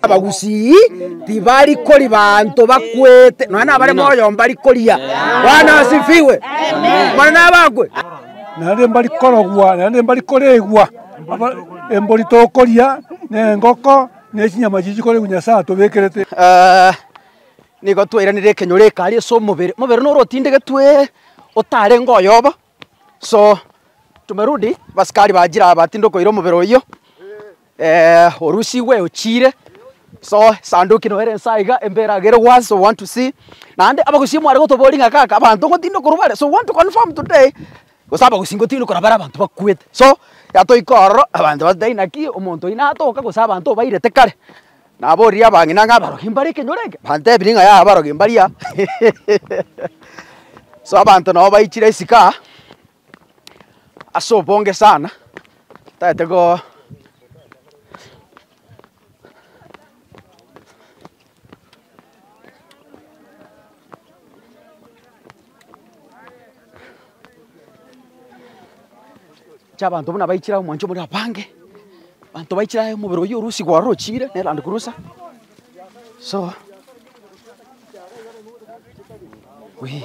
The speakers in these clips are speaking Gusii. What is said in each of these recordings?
abagusii tibari kori banto bakwete nonya nabare moyo mbari koria bwana asifiwe mana nabakwe naende mbari korogwa naende mbari koregwa aba- embori tokoria na engoko na echinyama chiria chikoregwa nyasae atobekerete Eh, nigo twairanire ekenyoro eke aria ase omobere omobere noro otindegetwe otarenge oyoba So tumerudi basikari bachire aba tinde okoira omobere oyio orusigwe ochire so sanduki noere inse aiga embere agere was so want to see naende abagusii mware gotoboria ng'a kaka abanto ngotinda korwa bare so want to confirm today gose abagusii ngotinda korwa bare abanto bakwete so yatoika ororo abanto bas dai naki omonto oyio natoka gose abanto obairete kare Naboorire abang'ina ng'a abarogi mbare ekenyoro eke, bantebirie ng'a yaya abarogi mbaria. So abanto nabo baichire isiko aa ase obonge sana, tagete go chiabanto buna baichire aye omwancho omorero abange, abanto baichire aye omobere oyio o Urusi gwarochire, ne Land Cruiser, so wee.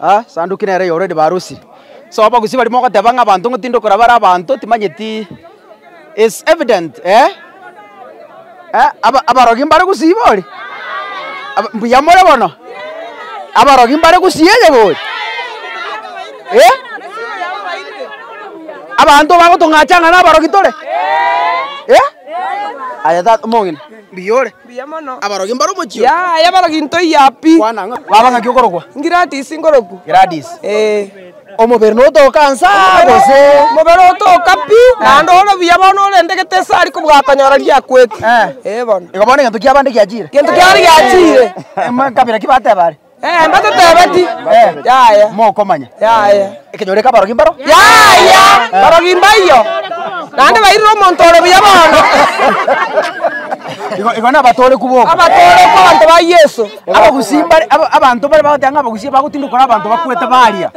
Ah, esanduki nere eye already barosirie. So abagusii baria mogoteba ng'a abanto ng'o tindi okora bare abanto timanyeti is evident eh, eh aba abarogi mbare gusii iga oria? Aba mbuya more bono? Abarogi mbare gusii iga oria? Eh? Abanto bagotong'acha ng'a nabarogi tore? Eh? Aye tata omong'ina mbuya ore. Abarogi mbare omochie oo. Gladys ngoroku. Omobere notoka nsa gose. Igo bono egento kiabande giachire. Emakabira ki bateba are? Mbatetebeti, Yaya. Mokomanya. Yaya. Ekenyoro eke abarogi mbaro? Yaya. Barogi mbaiyo. Naende bairire omonto ore buya bono. Igo, igo nabatoorekwa boka. Abatoorekwa abanto ba Yeso. Abagusii mbare, aba, abanto bare bagoteba ng'a abagusii bagotinda kore abanto bakwete baria.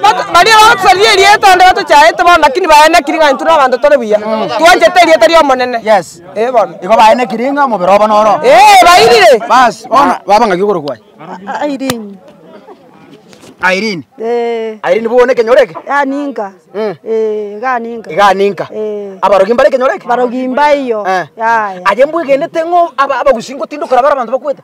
Bato, baria bagotosaria erieta onde batochaete bono, lakini baenekiri ng'a intwe na abanto tore buya. Twanchete erieta ri'Omonene. Yes. Igo baenekire ng'a omobere obo noro. Basi, bono baba ng'aki okoro kwaye? Irene. Irene bw'o one ekenyoro eke? Iga aninka. Abarogi mbare ekenyoro eke? Aye mbwegenete ng'a abagusii ngotinda okora bare abanto bakwete?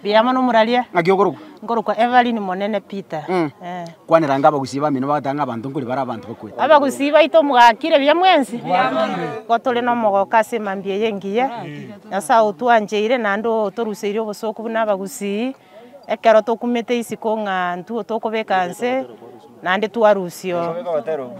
Mbuya mono morarie. Ng'aki okorokwa? Nkorokwa Evelyn Monene Peter. Mm. Eh. Kwanera ng'a abagusii bamino bagoteba ng'a abanto nkori bare abanto bakwete. Abagusii baito mogakire buya mwensi. Igo tore nomogoka ase mambia eye engiya. Nyasae otwancheire naende otoruseirie obosooku buna abagusii. Ekero tokumete isiko ng'a ntwo tokobeka nse, naende twarusio.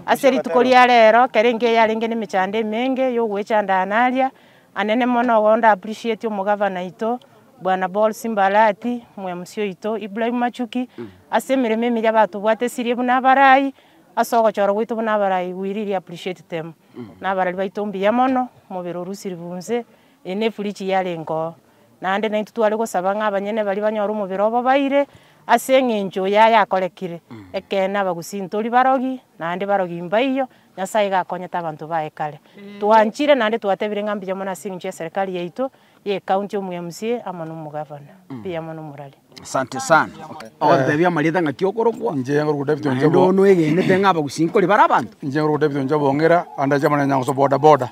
Ase rituko ria rero, kera engiya yarenge nemechando emenge yogoechanda aana aria, Anene mono igo nda appreciate omogavana oito bwana Ball's Mbalati, omwemusi oito Ibrahim Machuki ase emeremo emiya batobwate esirie buna abarai ase ogochora gwaito buna abarai we really appreciate them na abarari baito mbuya mono omobere orusiribu inse eye ne fridge yarenge oo naende naintwe tware gosaba ng'a abanyene baria banyore omobere obobaire ase eng'encho yaye akorekire ekeene abagusii ntori barogi naende barogi mbaiyo. Nyasae iga akonyete abanto baye kare. Twanchire naende twatebire ng'a mbuya mono as'engencho ya serikali yaito ye ecounty omu MCA amo nomogavana. Mbuya mono morari. Asante sana. Ogototebia amarieta ng'aki okorokwa. Inche ngorokwa David Onchobo. Naende oo noegenete ng'a abagusii nkori bare abanto. Inche ngorokwa David Onchobo Ong'ira, ande ache amanene nyangoso boda boda.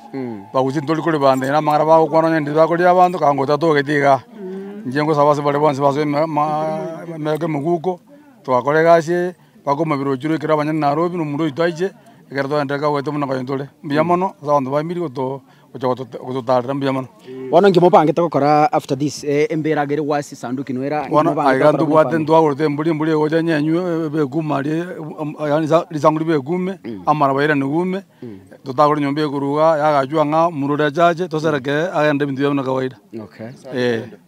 Abagusii ntori kori bande na amang'ana bagokwana onye ndiri bakoria abanto ka ngotatogeti igaa. Inche ngosaba ase bare bonsi basoe emegoko emeguko, togakora egasi eye, Bakomoibera oruchire ekero abanyene narobire, omonto oito aiche, ekero togenda iga goetwa buna koyio tore. Mbuya mono ase abanto baimirie goto gocha gotote gototarera mbuya mono. Bono inki mobangete gokora after this? Ee, embera iga ere gwasi sanduki no era. Inki Bono mobangete aiga gokora ntobwate mwefamiri? ntwagorete embori, embori egocha nyenywe e- ebekuma aria e- u- am- a- yaani sa- risangu ribe ekuume, amaraba airane guume, totagore nyomba ekorwa igaa, yagachwa ng'a omonto oria achache, tosereke agende ebinto biaye buna kawaida. Okay. Ee.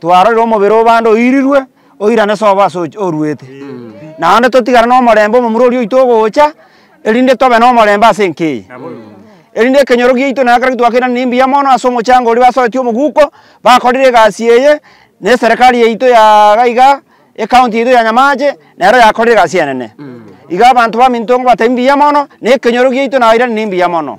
twarorire omobere o bande oirirwe, oirane sobo ase ochi oruete. Naende totigare na omorembe omomura oria oito ogocha, erinde tobe na omorembe ase enka eye. Erinde ekenyoro giaito na ekero gitwakeirane ne mbuya mono ase omochango oria basoetie omoguko, bakorire egasi eye, na eserekari yaito ya iga iga, ecounty yaito ya Nyamache, nero yakorire egasi enene. Iga abanto baminto nigo batebia mbuya mono, na ekenyoro giaito nairane ne mbuya mono.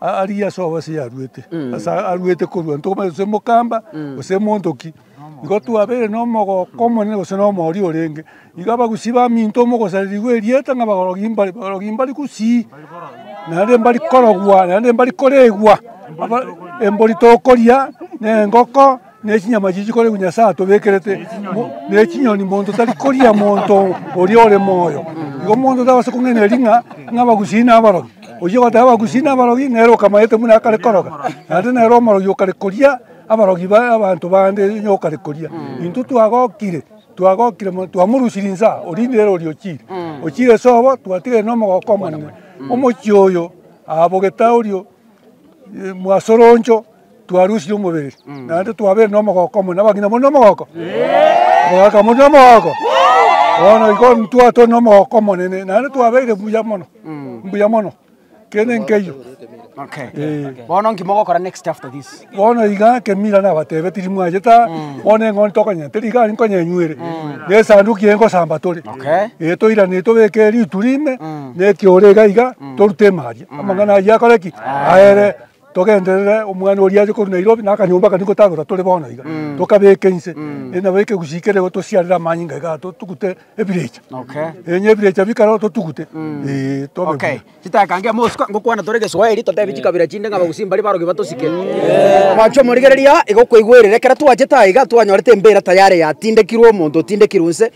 Aria ase obosio yaruete, ase aruete korua ntokomanye gose mokamba gose monto ki. Igo twabeire na omogoko omonene gose na omoooria orenge. Igo abagusii baminto mogosaririgwa erieta ng'a abagorogi mbare, abagorogi mbari gusii, naende mbari korogwa, naende mbari koregwa, embori tokoria, na engoko. ne chinyama chiria chikoregwa Nyasae atobekerete, mo- ne chinyoni monto tari koria monto oria ore moyo. Igo monto tabase kong'enereri ring'a ng'abagusii nabarogi. Oyio ogoteba abagusii nabarogi nere okamayete buna akare koroga, naende nere omorogi okare koria abarogi ba abanto bande onye okare koria. Intwe twagokire twagokire mono twamorusirie insa oria nere oria ochiire. Ochiire sobo twatigaire nomogoko omonene. Omochie oyo abogete aorio eh, mwasoroncho. twarusirie omobere, naende twabeire nomogooko omonene. Abang'ina more nomogooko? Abagaaka more nomogooko? Bono igo ntwaa tore nomogooko omonene, naende twabeire buya mono, mbuya mono kende nkeywo. Okay. Eh. Bono nki mogokora next after this? bono iga kemira nabatebe tiri mwacheta bono eng'ondi tokonyenya teri iga aria nkonyenyuere na esanduki eye nkosamba tore Okay. ee toirane tobeke rituri ime na ekioro iga iga torute ime aria amang'ana ayio akore ki aere Togenderere omwana oria ache korwa Nairobi na akanyomba akane gotagora tore bono iga, tokabeke inse, eh, nabo ekegusi kere igo tosiarere amanyinga igaa totugute ebirecha. Okay. Eh, onye ebirecha bikare igo totugute, eh, tobe Okay. buya. Chitakangia mosuka ngokwana tore Geswahili totebi chikabira chinde ng'a Abagusii mbari barogi batosike. Mwancho omorigereria aa iga okoigwerera ekero twachete aa iga twanyorete embira tayari yatindekirwe omonto otindekirwe inse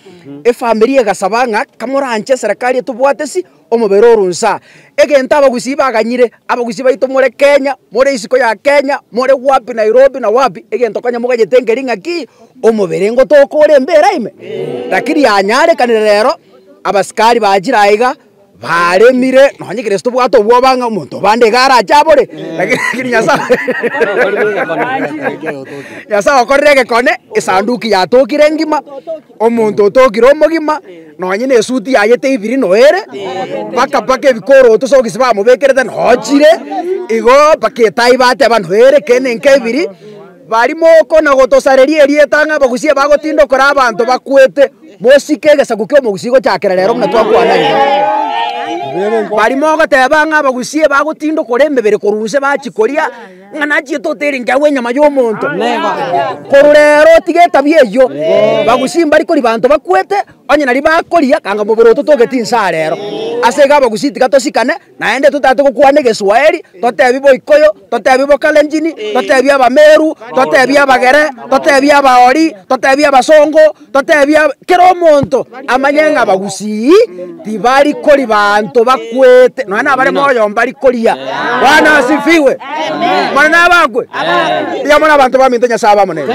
efamiri egasaba ng'a kamoranche eserekari etobwate si Omobere oro nsa. Egento abagusii baganyire. Abagusii baito more Kenya, more isiko ya Kenya, more wapi Nairobi na wapi, egento konya moganyete nkeri ng'a ki? Omobere ngotoka ore mbera ime? Lakini yanyarekanire rero, abasikari bachire aiga, baremire, nonye ekero ase tobwate obwoba ng'a omonto obande iga arache abore, lakini Nyasaye Nyasaye okorire egekone, esanduki yatokire ngima. Omonto otokire omogima, nonye na esuti yaye teibiri noere, mpaka mpaka ebikoroto sokisi bamobekerete nochire, igo mpaka etai bateba noere ekende nkebiri, bari moko na gotosareria erieta ng'a abagusia bagotinda okora abanto bakwete, mosike egesaku kia omogusi gochakera rero buna twakwana iga. Bari mogoteba ng'a abagusie bagotinda okora emebere korwa nse bachia koria. Ng'a nachiete oterenke agwo enyama y'omonto. Korwa rero tiga etabia eyio. Abagusii mbari kori banto bakwete, onye nari bakoria kanga omobere oto togeti inse aa rero. Ase iga abagusii tiga tosikane, naende totaete gokwana egeswaheri, totebi boikoyo, totebi bokalenjini, totebi abameru, totebi abagere, totebi abaori, totebi abasongo, Toteebia kera omonto amanye ng'a abagusii tibari kori banto bakwete, nonya nabare moyo mbari koria. Bwana asifiwe. Mana nabakwe. Tiga more abanto baminto Nyasae abe amo nere.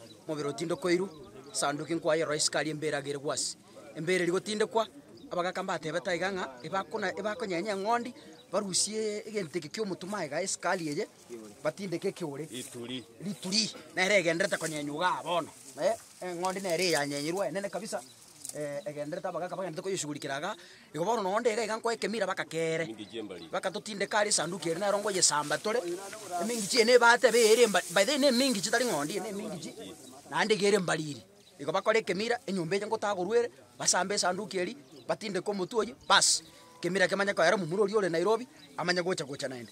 Omobere otindokoirwe, Esanduki nkwayerora isiko aria embeera agerigwe ase. Embeera eria gotindekwa, abagaka mbatebete aiga ng'a ebakona ebakonyenya eng'ondi, barusie egento eke ki'omotumo aiga esikari eye, batindeke ekeore, Rituri. rituri, nere egendererete konyenywa igaa bono, eh, eng'ondi nere eyanyenyirwe enene kabisa. egenderete abagaka bagenderete koyesugurikera iga, igo bono nonya onde iga iga nkoe ekemira bakakeere, bagatotindeka are esanduki ere nero ngoyesamba tore, emingichi eye na ebata ebe ere emba by the way na emingichi tari ng'ondi eye na emingichi, naende iga ere mbariri. Igo bakore ekemira, enyomba eye ngotagorwa ere, basambe esanduki eria, batindeke omotwe oyio, baas, ekemira ekio manye koera omomura oria ore Nairobi, amanye gocha gocha naende.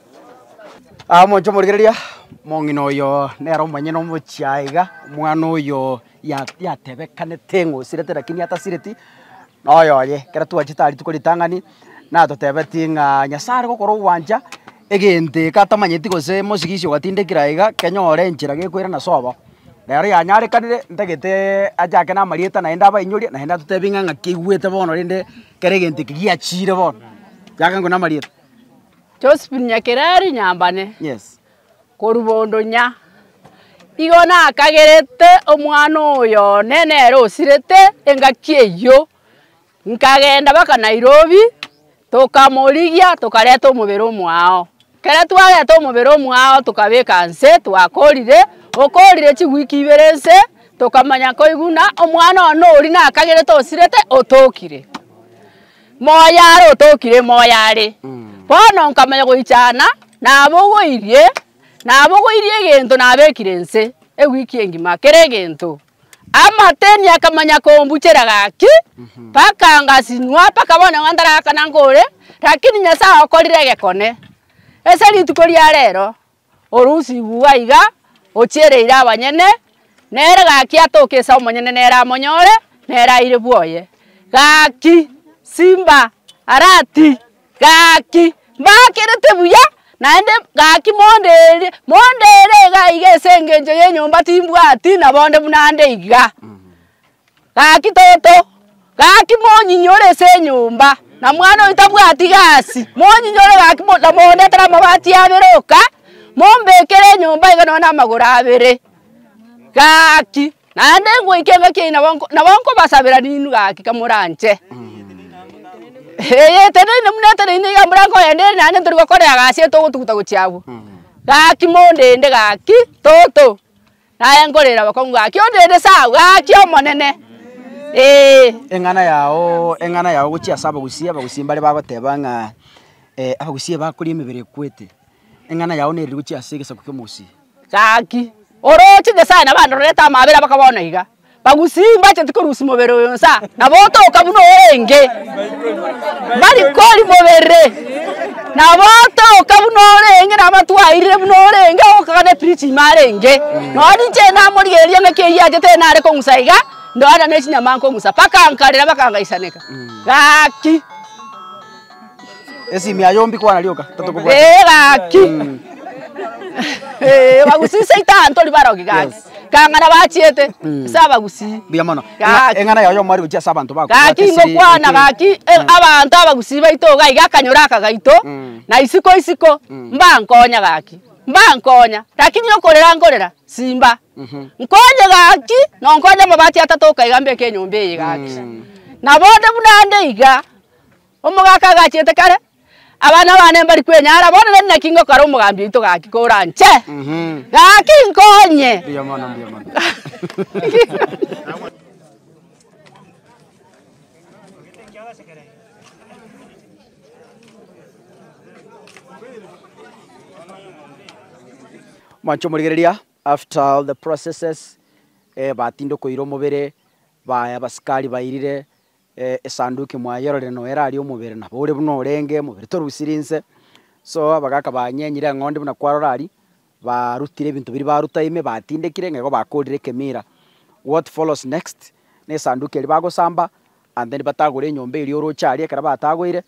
Aa, moche omorigereria, omong'ina oyo nere omonyene omochie aa iga, omwana oyo ya yatebekanete ng'a osirete lakini atasireti, noyo oye. Ekero twachete aa rituko ritang'ani, natotebetie ng'a Nyasaye are gokora ogwancha, egento eke atamanyeti gose mosigisi ogatindekire aye iga, kenyore enchera gekoirana sobo. Rero yanyarekanire, ntageteeee ache ake namarieta naende abainyorie, naende atotebie ng'a ng'aki aigwete bono rende kere egento eke giachire bono, kiakankorwa namarieta. Josephine Nyakerari Nyambane, korwa Bondonya, igo nakagerete omwana oyo one nere osirete engaki eyio, nkagenda mpaka Nairobi, tokamorigia tokareta omobere omwao. Ekero twareta omobere omwao tokabeka nse twakorire, okorire chiweek ibere nse, tokamanya koiguna omwana one oria nakagerete osirete otokire. Moyo are otokire moyo are. Bono nkamanya goichana nabogoirie, nabogoirie egento nabekire nse ewiki engima kera egento. Amateni akamanya kombuchera gaki mpaka ngasinwa mpaka bono iga ntarakana nkore, lakini Nyasaye okorire egekone. Ase rituko ria rero Orusi igwa iga, ochiereire abanyene, nere gaki atoke ase omonyene nere amonyore, nere aire bwoye. Gaki, simba, arati, gaki, mbakerete buya, naende gaki mondeerie, mondeere iga iga ase engencho y'enyomba timbwati nabonde buna nde iga. Gaki toto, gaki monyinyi ore ase enyomba, na mwana oyo tabwati gasi, monyinyi ore gaki mo- na mondetere amabati abere oka, mombekere enyomba iga nonya na amagoro abere. Gaki, naende ngoika engaki yaino nabo nko- nabo nkobasabera ninwe gaki kamoranche. Eye eteneine buna eteneine iga mbura nkogenda ere naende ntori gokora egasi eye togotuguta gochia abwo. Gaki mondende gaki toto. Naye nkorere abakungu gaki, Ondeete saa gaki, Omonene, ee. Eng'ana yao, eng'ana yao gochia ase abagusii, abagusii mbare bagoteba ng'a abagusii bakoria emebere ekwete, eng'ana yao neriri gochia ase egesaku ki'omogusii. Gaki, oroche Nyasaye nabo andorerete amaabera abakaba bono iga. Bagusii mbacheti korusia mobere oyo nsa, nabo otoka buna orenge. Bari kori mobere, nabo otoka buna orenge, nabo atwairire buna orenge, ogokagana epiriti ime arenge. Nonya ninche ere namorigereria ng'aki eyio aachete ere nare kong'usa iga, ndoana nechinyama nkong'usa. Mpaka nkarera bakangaisaneka. Gaki. Esimi ya yombi kwana rioka tatokobwata. Ee gaki. Ee bagusii seita abanto ori barogi gaki. Kang'ana bachiete. Ase abagusii. Mbuya mono. Gaki. Eng'ana yaye omo arigochia ase abanto bako. Gaki ngokwana gaki abanto abagusii baito iga iga akanyora aka gaito na isiko isiko mbankonya gaki. Mbankonya lakini okorera nkorera simba. Nkonye gaki nonkonye amabati atato oka iga mbeke enyomba eye gaki. Na bonde buna nde iga. Omogaka agachete kare, abana bane mbari kwenyara, bono nari naki ngokora omogambi oito gaki koranche, gaki nkonye. Mbuya mono, mbuya mono. Mwanche omorigereria, after all the processes, eh, batinde koira omobere, baye abasikari bairire, Esanduki mwayororire noyo erarie omobere, nabo ore buna orenge omobere torusirie inse. So abagaka banyenyire eng'ondi buna kwarora aria, barutire ebinto biria baruta ime, batindekire ng'a igo bakoorire ekemira. What follows next? Ne esanduki eria bagosamba and then batagore enyomba eria oroche aria ekero batagoire,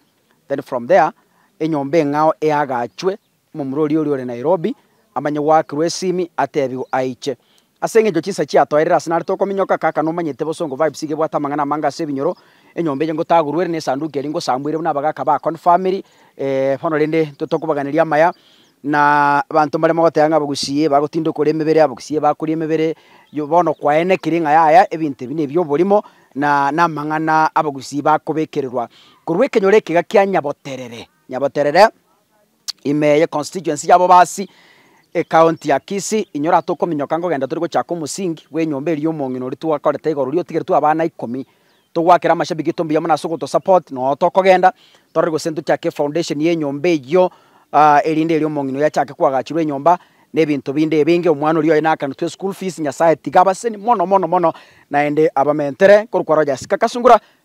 then from there enyomba eng'ao eagachwe Omomura oria oria ore Nairobi amanye gwaakirwe esimi atebigwe aiche. Ase engencho chinsa chiatoerire ase nare tokominyoka kaka nomanyete bosongo vibes iga ebwate amang'ana amange ase ebinyoro enyomba eye ngotagurwe ere nesanduku eria ngosambuire buna abagaka ba confirmiri eeh bono rende intwe tokobaganeria amaya na abanto mbarimo goteba ng'a abagusii bagotinda okoria emebere abagusii bakoria emebere yo bono kwaenekiri ng'a yaya ebinto ebi nebi oborimo na namang'ana abagusii bakobekererwa korwa ekenyoro ekiga kia nyaboterere. Nyaboterere, ime eye constituency ya Bobasi, ecounty ya Kisii, inyora atokominyoka nkogenda tore gochaka omosingi bw'enyomba eria omong'ina oria twakorete igoro riria otigeretwe abana ikomi, togwakere amashabiki eto mbuya mono ase ogotosupport, noo tokogenda torore gose ntochake foundation ya enyomba eyio erinde erio omong'ina oyio achake kwagachirwa enyomba na ebinto binde ebinge, omwana oria oye nakanetwe eschool fees, Nyasaye tiga abaseni mono mono mono, naende abamentere korwa kware Ojasinga Kasungura